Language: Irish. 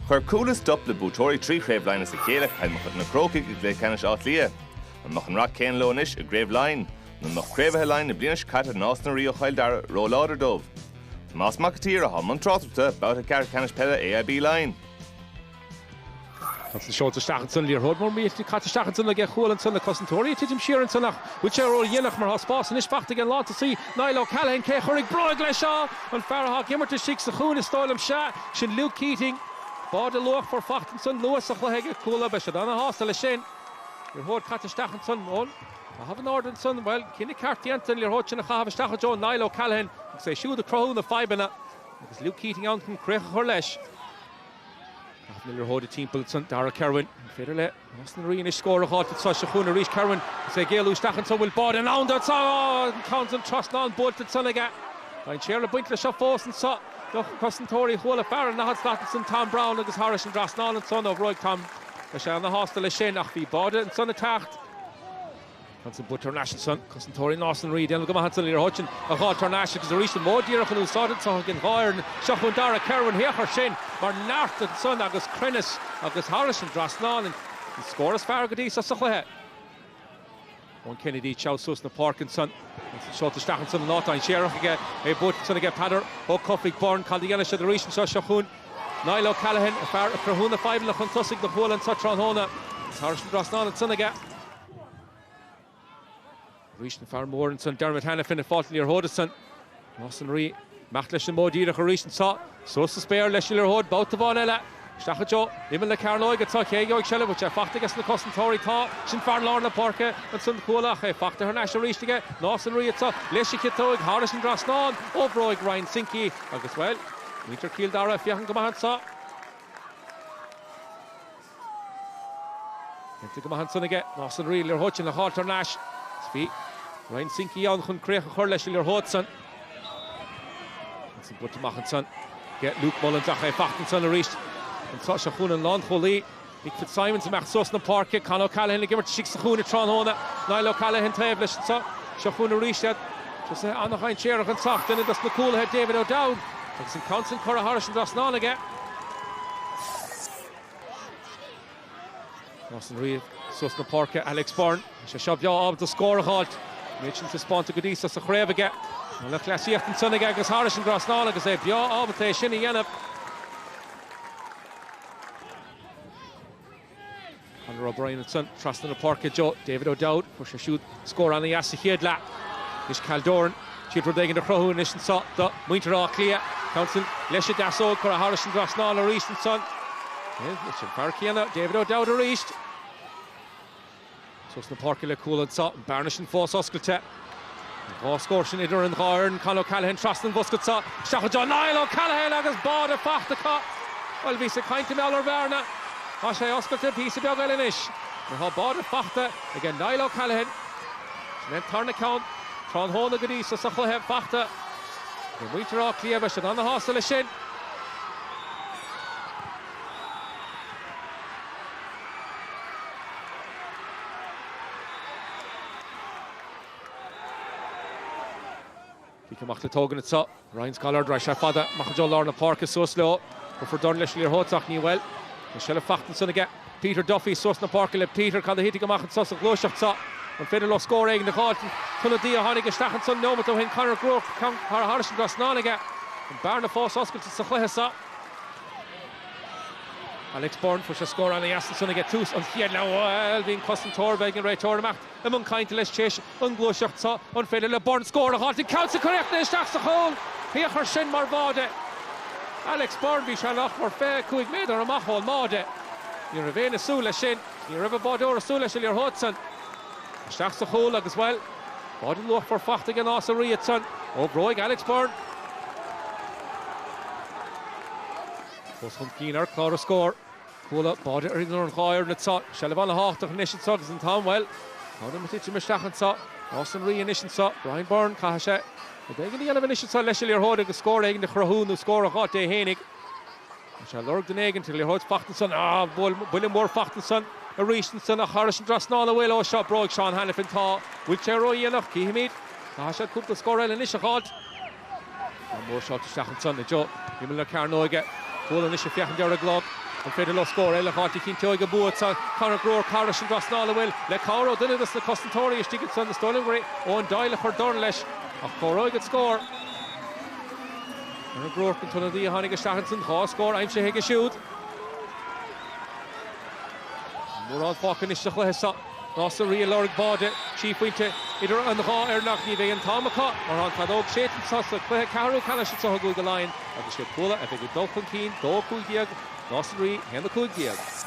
Chuir Cuala stop le buaiteoirí trí Chraobh Laighean as a chéile Cill Mochuda Na Crócaigh i gcluiche ceannais Átha Cliath. An mbeadh an rath céanna leo anois i gCraobh Laighean? Nó an mbeadh craobhaithe Laighean na bliana seo caite Nás na Rí ó Chill Dara róláidir dóibh? Tomás Mac an tSaoir atá i mbun tráchtaireachta, Babhta Ceathrú Ceannais Peile AIB Laighean. É sin seolta isteach ansan, liathróid mór millteach caite isteach ansan aige Cuala ansan, na cosantóirí ag titim siar ansan ach bhfuil sé ródhéanach mar tá spás anois faighte ag an lántosaí, Niall O'Callaghan, cé a chuirfidh bróig leis? An fear atá ag imirt istigh sa chúinne, is dóigh liom, sea, sin Luke Keating. Báide luachmhar faighte ansan, luath sa chluiche ag Cuala. Beidh siad ana-shásta leis sin. Liathróid caite isteach ansan ón gcaitheamh in airde ansan. Bhuel, cinneadh ceart déanta an liathróid sin a chaitheamh isteach i dtreo Niall O'Callaghan agus é siúd ag cruthú na fadhbanna agus Luke Keating ann chun críoch a chur leis. Ag caitheamh na liathróide timpeall ansan, Darragh Kirwan. An féidir le. Nás na Rí anois scór a dh'fháilt anso? Seo chugainn arís, Kirwan is é ag éalú isteach ansan bhfuil báide i ndán anso? An ceann san, trasnán buailte ansan aige. Dainséar ag baint leis seo fós anso do chosantóirí Chuala fear an daichead slat ansan Tom Browne agus thairis an dtrasnán ansan ó bhróig Tom. Beidh sé ana shásta leis sin ach bhí báide ansan ag teacht. É sin buaite thar n-ais ansan, cosantóirí Nás na Rí. Déanta go maith ansan liathróid sin a dh'fháilt thar n-ais agus arís an modh díreach in úsáid anso aige an dá fhoireann seo chugainn Darragh Kirwan féach air sin mar neart ansan agus cruinneas agus thairis an dtrasnán an scór is fearr go dtí seo sa chluiche. Eoin Kennedy teacht suas na páirce ansan. É sin seolta isteach ansan in áit dhainséarach aige é buaite ansan aige Peadar Ó Cofaigh Byrne cad a dhéanfaidh siad arís anso seo chugainn Niall O'Callaghan, fear ag cruthú na fadhbanna chun tosaigh do Chuala anso tráthnóna. Thairis an dtrasnán ansan aige. Arís an fear mór ansan, Dermot Hanafin, ag fáilt an liathróid ansan. Nás na Rí ag imeacht leis an modh díreach arís anso. Suas sa spéir leis an liathróid, babhta amháin eile. Isteach i dtreo, imeall na Cearnóige anso, cé a gheobhaidh seilbh? Bhfuil sé faighte aige sna cosantóirí? Tá. Sin fear lár na páirce ansan, Cuala, ach é faighte thar n-ais arís aige. Nás na Rí anso, leis an gciotóig, thairis an dtrasnán, ó bhróig Ryan Sinkey, agus, bhuel, muintir Chill Dara ag féachaint go maith anso. Déanta go maith ansan aige, Nás na Rí liathróid sin a dh'fháilt thar n-ais. Is bhí Ryan Sinkey ann chun críoch a chur leis an liathróid san. É sin buailte amach ansan aige Luke Mullins ach é faighte ansan arís. Anso seo chugainn an lánchúlaí, Mick Fitzsimons ag imeacht suas na páirce. Con O'Callaghan ag imirt istigh sa chúinne tráthnóna. Niall O'Callaghan taobh leis anso. Seo chugainn arís iad. Tosaithe an-dhainséarach anso ach duine dos na cúlaithe, David O'Dowd, agus an ceann san curtha thairis an dtrasnán aige. Nás na Rí suas na páirce Alex Beirne. Is é seo breá ábalta a scór a dh'fháilt. Méid sin taispeánta go dtí so sa chraobh aige. Tá lúthchleasaíocht ansan aige agus thairis an dtrasnán agus é breá ábalta é sin a dhéanamh. Conor O'Brien ansan trasna na páirce. I dtreo David O'Dowd, fuair sé siúd. Scór ana-dheas sa chéad leath. Anois Cal Doran. Féidir rud éigin a chruthú anois anseo do mhuintir Átha Cliath. Ceann san leis an deasóg curtha thairis an dtrasnán arís ansan. Anois an fear céanna, David O'Dowd arís. Suas na páirce le Cuala anseo. An bearna sin fós oscailte. Dhá scór sin idir an dhá fhoireann. Con O'Callaghan trasna an bhosca anseo. Isteach i dtreo Niall O'Callaghan agus báide faighte acu. Bhuel bhíos ag caint mar gheall ar bhearna. Tá sé oscailte píosa beag eile anois. Mar tá báide faighte. aige Niall O'Callaghan. Sin é an tarna ceann tráthnóna go dtí so sa chluiche fachta aige. Muintir Átha Cliath, beidh siad ana-shásta leis sin. Cic amach le tógaint anso. Ryan Scollard. Raghaidh sé fada amach i dtreo lár na páirce suas leo. Cuirfear dorn leis an liathróid ach ní bhfuil. Tá seilbh faighte ansan aige. Peter Duffy suas na páirce le Peter Cad a thitfidh amach anso sa ghluaiseacht so? An féidir leo scór éigin a dh'fháilt? An t-ionadaí a tháinig isteach ansan neomat ó shin Conor Groarke. Tá curtha thairis an trasnán aige. An bearna fós oscailte sa chluiche so. Alex Beirne Fuair sé scór an-dheas ansan ag tús an chéad leath Bhuel bhí an cosantóir, beidh an réiteoir imeacht. I mbun cainte leis théis an ghluaiseacht seo an féidir le Beirne scór a dh'fháilt an ceann so curtha isteach sa chúl. A thiarcais, sin mar bháide. Alex Beirne bhí sé nach mór 25 méadar amach ón mbáide. Ní raibh éinne súil leis sin. Ní raibh an báideoir ag súil leis an liathróid san. Isteach sa chúl agus, bhuel, báide luachmhar faighte ag Nás na Rí ansan. Ó bhróig Alex Beirne. Fós chun cinn ar chlár na scór. Cuala, báide idir an dhá fhoireann anso, seilbh ana-thábhachtach anois anso agus an t-am, bhuel, tá an t-am ag titim isteach anso, Nás na Rí anois anso, Brian Byrne, caithfidh sé rud éigin a dhéanamh anois anso leis an liathróid agus scór éigin a chruthú nó scór a dh'fháilt é fhéinig. Tá sé ag lorg duine éigin, tá liathróid faighte ansan, á, bhuel, buille mór faighte ansan aríst ansan ach thairis an dtrasnán, an bhfuil, é seo ó bhróig Seán Hanafin, tá, bhfuil sé ródhéanach, chífimid, caithfidh sé cúpla scór eile anois a dh'fháilt. Ceann mór seolta isteach ansan, i dtreo imeall na cearnóige. Cuala anois ag féachaint ar an gclog. An féidir leo scór eile a fháilt a chinnteoidh an bua so. Conor Groarke thairis an dtrasnán, an bhfuil le cabhair ó dhuine dos na cosantóirí istigh ansan. Is dóigh liom gur é Eoin Doyle a chuir dorn leis. Ach comhaireoidh an scór. Conor Groarke an t-ionadaí a tháinig isteach ansan. Dhá scór aimsithe aige siúd. Mórán fágtha anois sa chluiche seo. Nás na Rí ag lorg báide, trí phointe idir an dhá fhoireann ach ní bheidh an t-am acu. Mar an feadóg séite anso sa chluiche ceathrú ceannais anseo i gCúige Laighean agus sé Cuala a bheidh ag dul chun cinn dó, 15, Nás na Rí, a haon, 15.